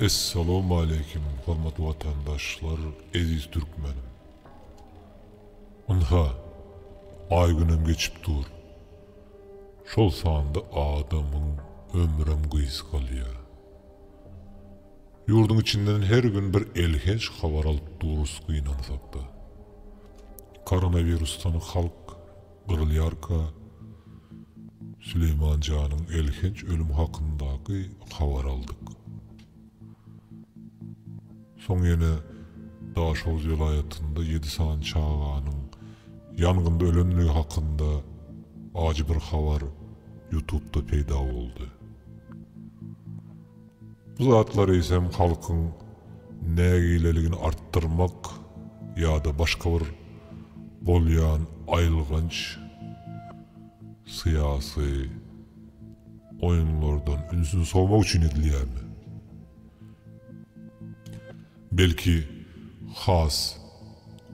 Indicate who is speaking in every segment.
Speaker 1: Essalawmaleýkim hormatly watandaşlar eziz türkmenim. Ynha, aý günem geçip dur. Şol sanda adamyň ömrem gysgalýa. Ýurduň içinden her gün bir elhenç habar alyp durus gynansakda. Koronawirusdan halk. Gyrylýarka, Süleýman janyň elhenç ölüm hakyndaky habary aldyk. Soň ýene Daşoguz welaýatynda ýedi sany çaganyň ýangynda ölendigi hakynda ajy bir habar Ýutubda peýda boldy. Bu zatlar eýsem halkyň nägileligini artdyrmak ýa-da başga bir bolýan aýylganç syýasy oýunlardan ünsüni sowmak üçin edilýärmi? Belki, has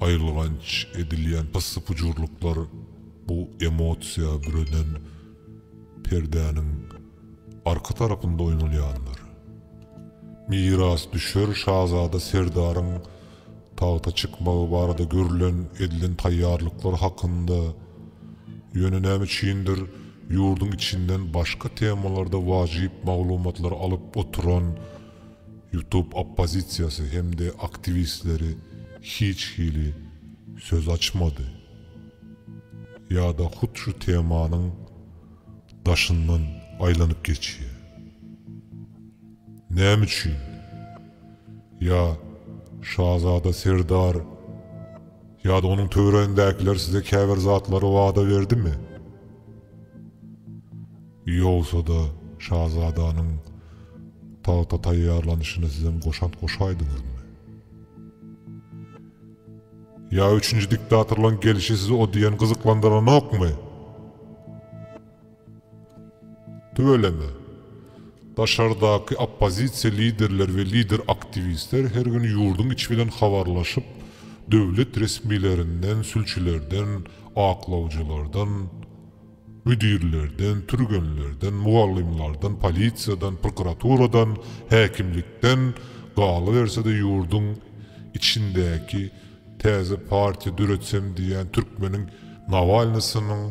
Speaker 1: aýylganç edilýän pyssy-pujurlyklar bu emosiýa bürenen Perdäniň arka tarapynda oýnalýanlar. Mirasdüşer şazada Serdaryň tagta çykmagy barada görlen, edilen taýýarlyklar hakynda, ýöne näme üçindir, ýurduň içinden başga temalarda wajyp maglumatlary alyp oturan YouTube oppozisiýasy hem-de aktiwistleri hiç hili söz açmady. Ýa-da hut şu temanyň daşyndan aýlanyp geçýär. Näme üçin? Ýa şazada Serdar ýa-da onuň töweregindäkiler size käbir zatlary wada berdimi? Ýogsa-da şazadanyň tagta taýýarlanyşyna sizem goşant goşaýdyňyzmy? Ýa üçünji diktatorlaň gelişi sizi o diýen gyzyklandyranokmy? Tüweleme. Daşardaky oppozisiýa liderleri we lider aktiwistler her gün ýurduň içi bilen habarlaşyp, döwlet resmilerinden, sülçülerden, aklawjylardan, Müdirlerden, türgenlerden, mugallymlardan, polisiýadan, prokuraturadan, häkimlikden, galyberse-de ýurduň içindäki täze partiýa döretsem diýýän türkmeniň Nawalnysynyň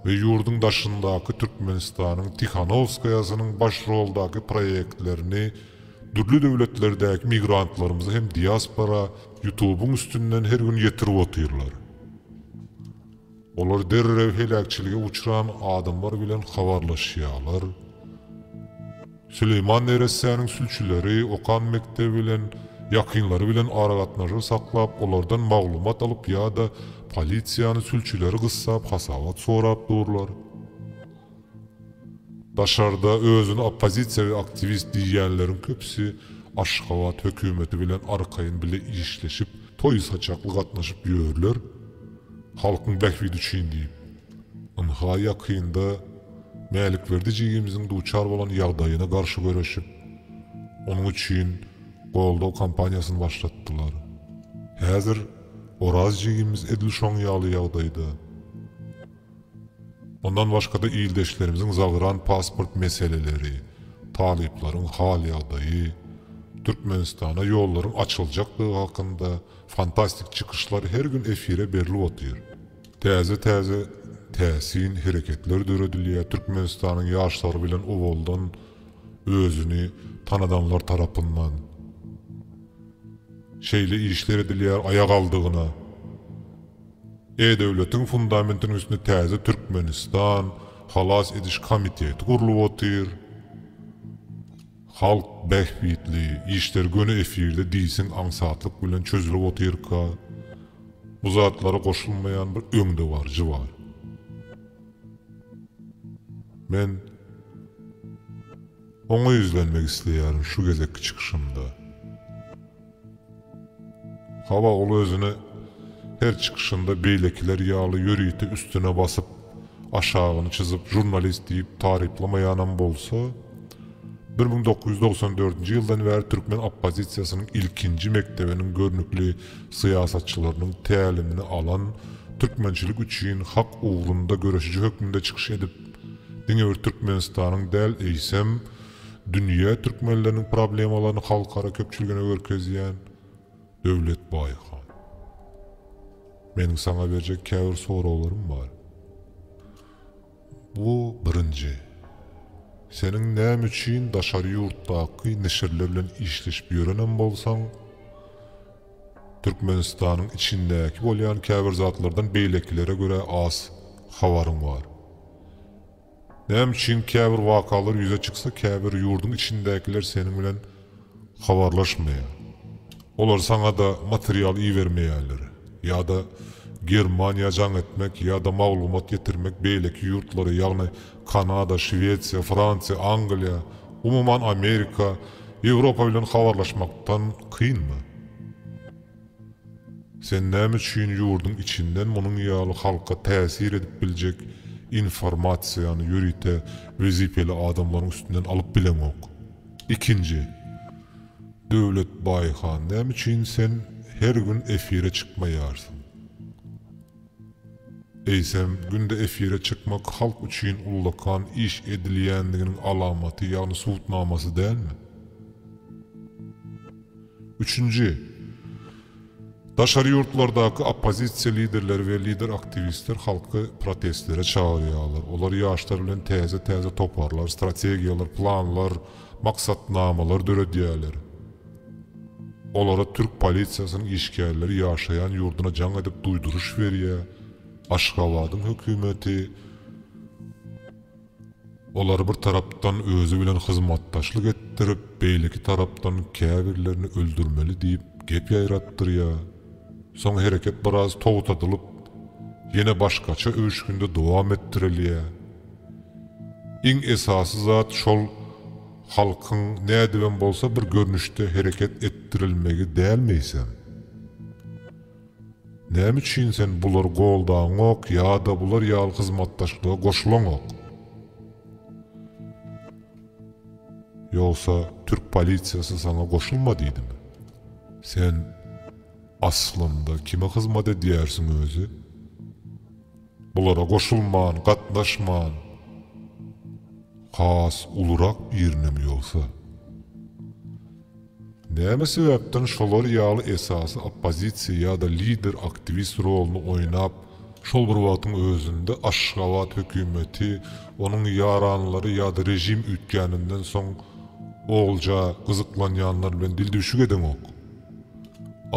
Speaker 1: we ýurduň daşyndaky Türkmenistanyň Tihanowskaýasynyň baş roldaky proýektlerini dürli döwletlerdäki migrantlarymyza hem diaspora Ýutubyň üstünden her gün ýetirip otyrlar. Olar derrew heläkçilige uçran adamlar bilen habarlaşýarlar. Süleýman neressäniň sülçüleri okan mekdebi bilen, ýakynlary bilen aragatnaşyk saklap, olardan maglumat alyp ýa-da polisiýany sülçüleri gyssap hasabat sorap durlar. Daşarda özüni oppozisiýawi aktiwist diýýänleriň köpüsi Aşgabat hökümeti bilen arkaýyn bile işleşip, toý-saçakly gatnaşyp ýörler, halkyň bähbidi üçin diýip. Ynha, ýakynda Mälikberdi jigimiziň duçar bolan ýagdaýyna garşy göreşip, onuň üçin goldaw kampaniýasyny başlatdylar. Häzir Oraz jigimiz edil şoň ýaly ýagdaýda. Mundan başga-da ildeşlerimiziň zabran pasport meseleleri, talyplaryň hal-ýagdaýy, Türkmenistana ýollaryň açyljakdygy hakynda fantastik çykyşlar her gün efire berlip otyr. Täze-täze täsin hereketler döredilýär, Türkmenistanyň ýaşlary bilen owaldan özüni tanadanlar tarapyndan şeýle işler edilýär, aýagaldygyna, E-döwletiň fundamentiniň üstünde täze Türkmenistan halas ediş komiteti gurlup otyr. Halk bähbitli işler göni efirde diýseň aňsatlyk bilen çözülip otyrka, bu zatlara goşulmaýan bir öňdebaryjy bar. Men oňa ýüzlenmek isleýärin şu gezekki çykyşymda. Hawa, ol özüni her çykyşynda beýlekiler ýaly ýörite üstüne basyp, aşagyny çyzyp žurnalist diýip taryplamaýanam bolsa, bir müň dokuz ýüz togsan dördünji ýyldan bäri türkmen oppozisiýasynyň ilkinji mekdebiniň görnükli syýasatçylarynyň tälimini alan, türkmençilik üçin hak ugrunda göreşiji hökmünde çykyş edip, diňe bir Türkmenistanyň däl, eýsem, Dünýä türkmenleriniň problemalaryny halkara köpçüligine görkezýän Döwlet Baýhan. Meniň saňa berjek käbir soraglarym bar. Bu birinji. Seniň näme üçin daşary ýurtdaky neşirler bilen işleşip ýörenem bolsaň, Türkmenistanyň içindäki bolýan käbir zatlardan beýlekilere görä az habaryň bar? Näme üçin käbir wakalar ýüze çyksa käbir ýurduň içindäkiler seniň bilen habarlaşmaýar? Olar saňa-da material ibermeýärler. Ýa-da Germaniýa jaň etmek ýa-da maglumat getirmek beýleki ýurtlara ýagny Kanada, Şwesiýa, Fransiýa, Angliýa, umuman Amerika, Ýewropa bilen habarlaşmakdan kynmy? Sen näme üçin ýurduň içinden munuň ýaly halka täsir edip biljek informasiýany ýörite wezipeli adamlaryň üstünden alyp bileňok? Ikinji, Döwlet Baýhan näme üçin sen her gün efire çykmaýarsyň? Eýsem, günde efire çykmak halk üçin ullakan iş edilýändiginiň alamaty, ýagny subutnamasy dälmi? Üçünji, daşary ýurtlardaky oppozisiýa liderleri we lider-aktiwistler halky protestlere çagyrýarlar. Olar ýaşlar bilen täze-täze toparlar, strategiýalar, planlar, maksatnamalar döredýärler. Olara türk polisiýasynyň işgärleri ýaşaýan ýurduna jaň edip duýduryş berýär, Aşgabadyň hökümeti olary bir tarapdan özi bilen hyzmatdaşlyk etdirip, beýleki tarapdan käbirlerini öldürmeli diýip gep ýaýratdyrýar. Soň hereket biraz togtadylyp, ýene başgaça öwüşginde dowam etdirilýär. Iň esasy zat şol, Halkyň nädibem bolsa bir görnüşde hereket etdirilmegi dälmi eýsem? Näme üçin sen bulary goldaňok ýa-da bular ýaly hyzmatdaşlyga goşulaňok? Ýogsa türk polisiýasy saňa goşulma diýdimi? Sen aslynda kime hyzmat edýärsiň özi? Bulara goşulman, gatnaşman, has ulurak biriniň ýogsa. Näme sebäpden şolar ýaly esasy oppozisiýa ýa-da lider aktiwist roluny oýnap, şol bir wagtyň özünde Aşgabat hökümeti, onuň ýaranlary ýa-da režim üýtgäninden soň olja gyzyklanýanlar bilen dildüwşük edeňok?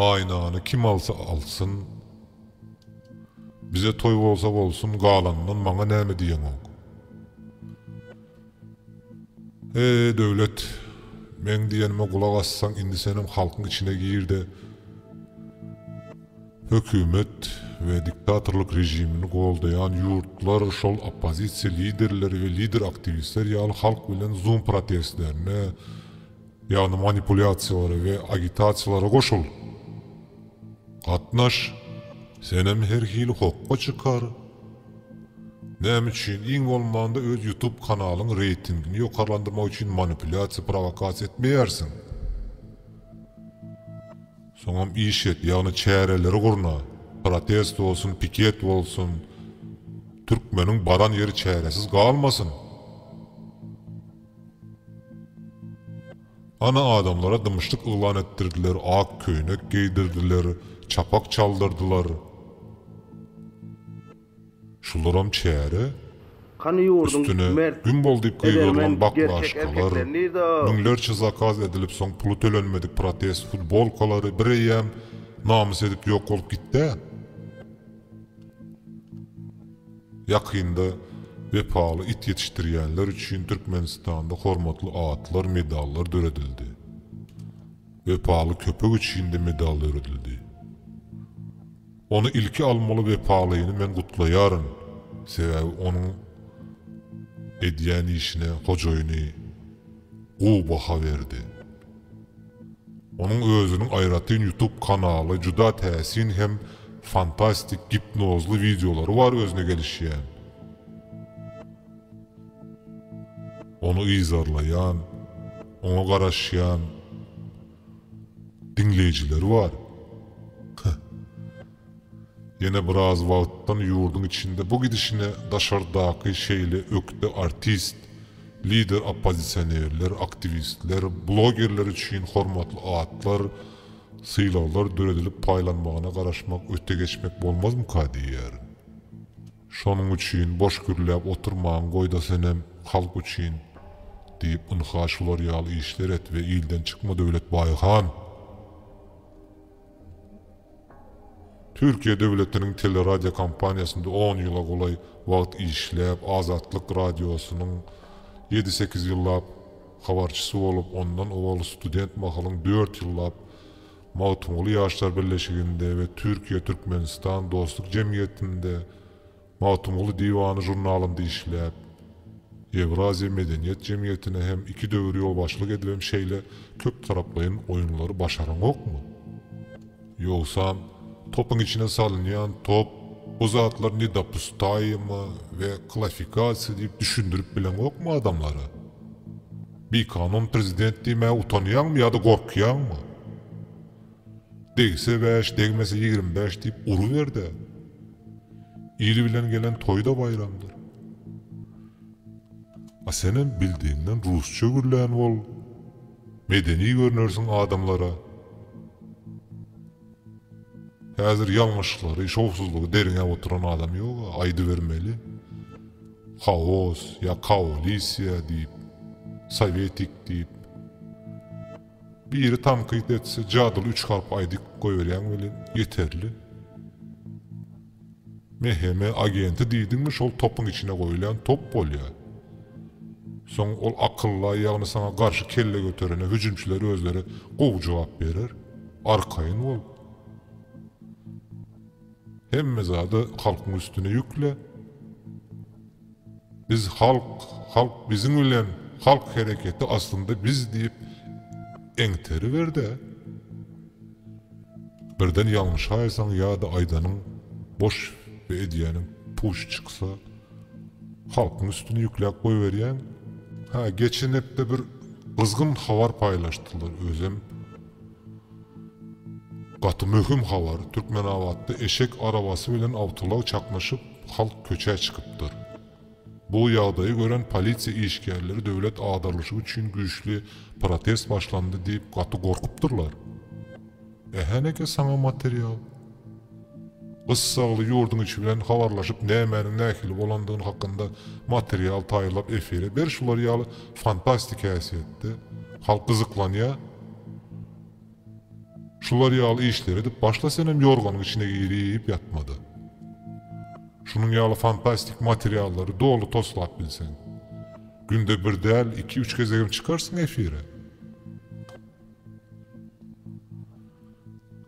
Speaker 1: Aýnany kim alsa alsyn, Bize toý bolsa bolsun galanyndan maňa näme diýeňok. He Döwlet meň diýenime gulak assaň indi senem halkyň içine girde hökümet we diktatorlyk režimini goldaýan ýurtlar şol oppozisiýa liderleri we lider aktiwistler ýaly halk bilen zoom protestlerine Ýagny manipulýasiýalara we agitasiýalara goşul. Gatnaş, senem her hili hokga çykar. Näme üçin, iň bolmanda öz ýutub kanalyň reýtingini ýokarlandyrmak üçin manipulýasiýa prowokasiýa etmeýärsiň. Soňam iş et, ýagny çäreleri gurna, protest bolsun, piket bolsun, türkmeniň baran ýeri çäresiz galmasyn. Ana adamlara dymyşlyk yglan etdirdiler, ak köýnek geýdirdiler, çapak çaldyrdylar. Şularam çäre. Hany ýurduň Üstüne mert, Gün bol diýip edermen, gygyrylan gerçek baklaşkalar, erkekleri nirde o? müňlerçe zakaz edilip soň puly tölenmedik protest futbolkalary bireýýäm namys edip ýok bolup gitdä? Ýakynda Wepaly it ýetişdirýänler üçin Türkmenistanda hormatly atlar, medallar döredildi. Wepaly köpek üçin-de medal döredildi. Ony ilki almaly Wepalyny men gutlaýaryn, sebäbi onuň edýän işine hojaýyny gowy baha berdi. Onuň özüniň aýratyn ýutup kanaly juda täsin hem fantastik gipnozly wideolary bar özüne gelişýän, ony yzarlaýan, oňa garaşýan diňleýjileri bar. Heh. Ýene biraz wagtdan ýurduň içinde bu gidişine daşardaky şeýle ökde artist, lider oppozisionerler, aktiwistler, blogerler üçin hormatly atlar, sylaglar döredilip paýlanmagyna garaşmak öte geçmek bolmazmyka diýýärin. Şonuň üçin boş gürläp oturmaň goýda senem halk üçin diýip ynha şular ýaly işler et we ilden çykma Döwlet Baýhan! Türkiýe döwletiniň teleradiokompaniýasynda on ýyla golaý wagt işläp, Azatlyk Radiosynyň ýedi-sekiz ýyllap habarçysy bolup, ondan owal student mahalyň dört ýyllap Magtymguly Ýaşlar birleşiginde we Türkiýe-Türkmenistan dostluk jemgyýetinde Magtymguly diwany žurnalynda işläp, Ýewraziýa medeniýet jemgyýetine hem iki döwür ýolbaşçylyk edibem şeýle köptaraplaýyn oýunlary başaraňokmy? Ýogsam, topyň içine salynýan top, bu zatlar nedopustaýyma we klafikasiýa diýip düşündirip bileňokmy adamlara? Bikanun prezident diýmäge utanýaňmy ýa-da gorkýaňmy? Degse bäş, degmese ýigrimi bäş diýip uruber-de, il bilen gelen toý-da baýramdyr. A senem bildigiňden rusça gürlän bol, medeni görnersiň adamlara. Häzir ýalňyşlyklary, şowsuzlygy derňäp oturan adam ýog-a, aýdybermeli. Haos ýa kaolisiýa diýip, sowetik diýip. Biri tankyt etse jadyly üç harp aýdyp goýberýäň welin ýeterli. MHM agenti diýdiňmi şol topuň içine goýulýan top bolýar. Soň ol akylla ýagny saňa garşy kelle göterene hüjümçiler özleri gowy jogap berer. Arkaýyn bol. Hemme zady halkyň üstüne ýükle. Biz halk, halk biziň bilen, halk hereketi aslynda biz diýip eňteriber-dä. Birden ýalňyşaýsaň ýa-da aýdanyň boş we edýäniň puç çyksa, halkyň üstüne ýükläp goýberýäň. Hä, geçen hepde bir gyzgyn habar paýlaşdylar, özem. Gaty möhüm habar, Türkmenabatda eşek arabasy bilen awtoulag çaknyşyp, halk köçä çykypdyr. Bu ýagdaýy gören polisiýa işgärleri döwlet agdarlyşy üçin güýçli protest başlandy diýip gaty gorkupdyrlar. Ähä näke saňa material. Gyssagly ýurduň içi bilen habarlaşyp nämäniň nähili bolandygyny hakynda material taýýarlap efire ber şular ýaly fantastik häsiýetde halk gyzyklanýa şular ýaly işleri edip başla senem ýorganyň içine girip ýatmada şunuň ýaly fantastik materiallary doly toslap bilseň günde bir däl iki üç gezegem çykarsyň efire.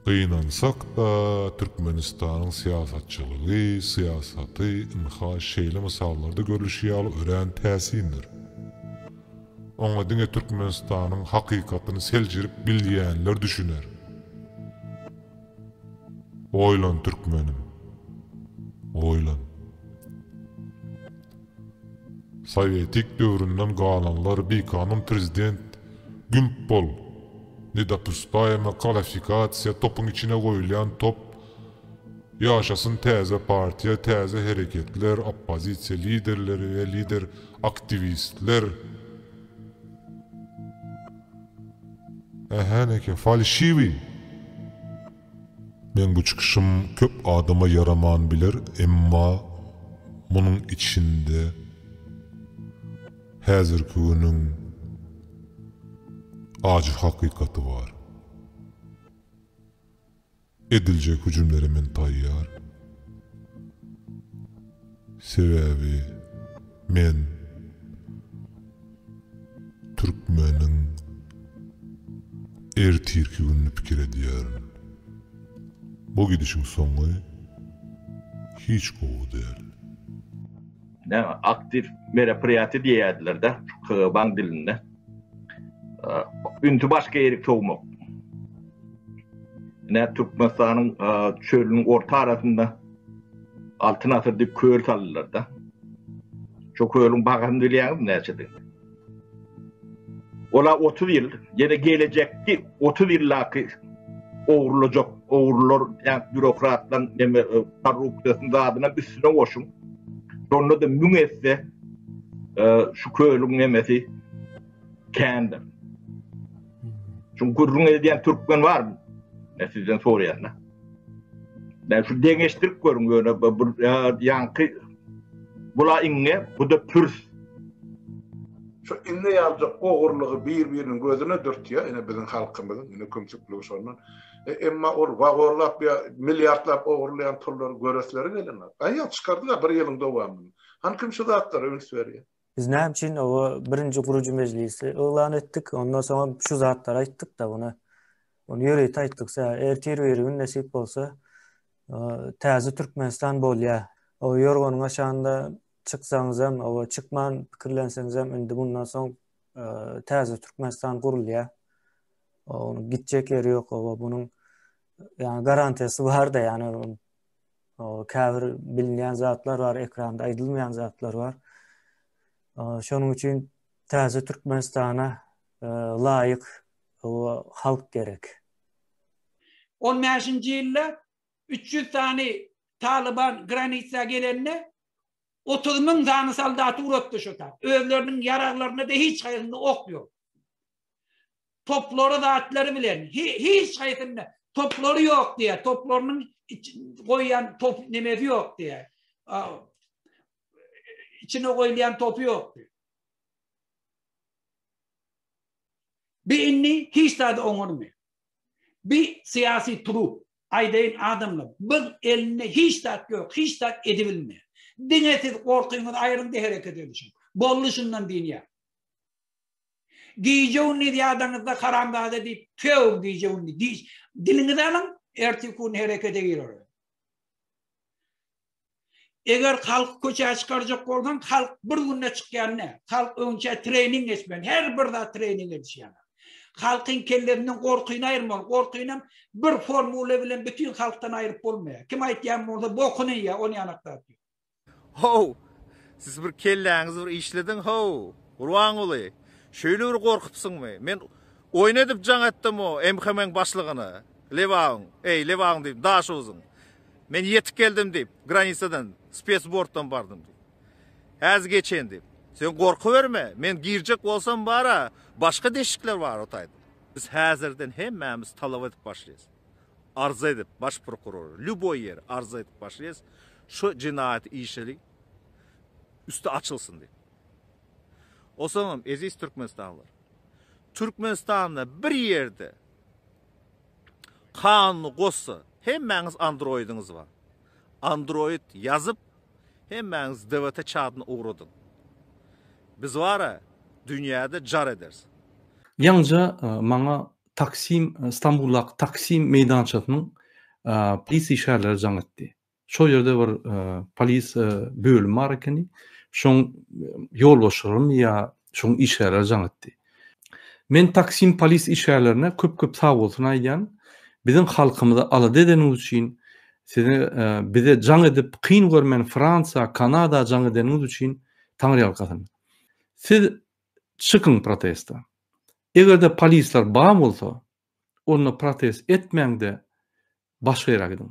Speaker 1: Gynansak-da, Türkmenistanyň syýasatçylygy, syýasaty, ynha, şeýle mysallarda görlüşi ýaly örän täsindir. Oňa diňe Türkmenistanyň hakykatyny seljerip bilýänler düşüner. Oýlan, türkmenim, oýlan! Sowetik döwründen galanlar bikanun prezident gümp bol nedopustayma kalafikasiýa topuň içine goýulýan top ýaşasyn täze partiýa täze hereketler oppozisiýa liderleri we lider aktiwistler ähä neke falşiwi. Meň bu çykyşym köp adama ýaraman biler, emma munuň içinde häzirki günüň ajy hakykaty bar. Ediljek hüjümlere men taýýar. Sebäbi men türkmeniň ertirki gününi pikir edýärin. Bu gidişiň soňy hiç gowy däl.
Speaker 2: Näme, aktiw meropriýatiýa diýýärdiler-dä şu KGB-nyň dilinde. Ünsi başga ýeri sowmak. Ine, Türkmenistanyň çölüniň orta arasynda. Altyn asyr diýip köl saldylar-da. Şo kölüň bagaryny bilýäňizmi näçedigini? Ola otuz ýyl, ýene gelejekki otuz ýyldaky ogurlajak ogurlar, däp býurokratlaryň neme korrupsiýasyny zadynam üstüne goşuň. Şonda-da müň esse şu kölüň nemesi kändir. Şu gürrüň edýän türkmen barmy? Men sizden soraýan-da. Belki deňeşdirip görüň ýöne bu ýaňky bula iňňe buda pürs.
Speaker 3: Şu iňňe ýaljak ogurlygy bir biriniň gözüne dürtýä ine biziň halkymyzyň ine kümsükligi şondan. Emma ol wagonlap ýa milliardlap ogurlaýan pullary göresleri gelenok. Aýa çykardylar bir ýylyň dowamynda. Hany kim şu zatlara üns berýä. Biz näme üçin o
Speaker 4: birinji gurujy mejlisi yglan etdik, ondan soň şu zatlary aýtdyk da buna. Onu ýörite aýtdyk. Ertir bir gün nesip bolsa, täze Türkmenistan bolýar. O ýorganyň aşagynda çyksaňyz hem, o çykman pikirlenseňiz hem indi mundan soň täze Türkmenistan gurulýar. Onuň gitjek ýeri ýok, o bunuň ýa garantiýasy bar-da, ýa käbir bilinýän zatlar bar, ekranda aýdylmaýan zatlar bar. Şonuň üçin täze Türkmenistana e, laýyk halk gerek.
Speaker 5: 15-nji ýylda 300 sany Talyban granitsa gelende 30 müň sany soldaty uratdy şo tap. Özleriniň ýaraglarynda da hiç haýsynda ok ýok. Toplary zatlary bilen hiç haýsynda toplary ýok diýýär. Toplarynyň goýýan top nemesi ýok diýýär. İçine goýulýan topy ýok diýýär. Bir inni hiç zady oňarmy? Bir syýasy turup aýdaýyn adamlar, biz elinde hiç zat ýok, hiç zat edibilmeýär. Diňe siz gorkyňyzy aýryň-da hereket edişiň. Boldy şundan diýýär. Gije-gündiz ýadaňyzda haramzada diýip, tüýägiň gije-gündiz diş, diliňizi alyň, erteki-gün herekete gir ora. Eger halky köçä çykarjak bolsaň, halk bir günde çykýan ne? Halk öňçä treýning geçmeli, her bir zat treýning edişýär. Halkyň kellesinden gorkyny aýyrmaly, gorkynam bir formula bilen bütin halkdan aýryp bolmaýar. Kim aýtýan bolsa bokuny ýa, ony ýanakda atýar. How!
Speaker 6: Siz bir kelläňizi bir işlediň, how! Gurbanguly, şeýle bir gorkupsyňmy? Men oýun edip jaň etdim o MHM-iň başlygyna, Lebabyň, eý, Lebabyň diýdim, Daşoguzyň. Men ýetip geldim diýip, granisadan, spesbortdan bardym diýip. Häzir geçen diýip. Sen gorkuberme, men girjek bolsam bar-a, başga deşikler bar ota aýdyp. Biz häzirden hemmämiz talap edip başlaýas. arza edip baş prokuror lýuboý ýere arza edip başlaýas şu jenaýat işi üsti açylsyn diýip. Osoňam eziz türkmenistanlylar Türkmenistanda bir ýerde kanuny gossa hemmäňiz androidiňiz bar. Android ýazyp hemmäňiz DVT çadyna ugradyň. Biz bara dünýäde jar ederis. Ýaňyja
Speaker 7: maňa Taksim, Stambuldaky Taksim meýdançasynyň polis işgärleri jaň etdi. Şol ýerde bir polis bölümi bar ekeni. Şoň ýolbaşçylaryny ýa şoň işgärleri jaň etdi. Men Taksim polis işgärlerine köp-köp sag bolsun aýdýan. Biziň halkymyzy alada edeniňiz üçin, size bize jaň edip, kyn görmän Fransiýa, Kanada jaň edeniňiz üçin Taňryýalkasyn. Siz çykyň protesta. Egerde polisler bar bolsa onda protest etmäňde başga ýere gidiň.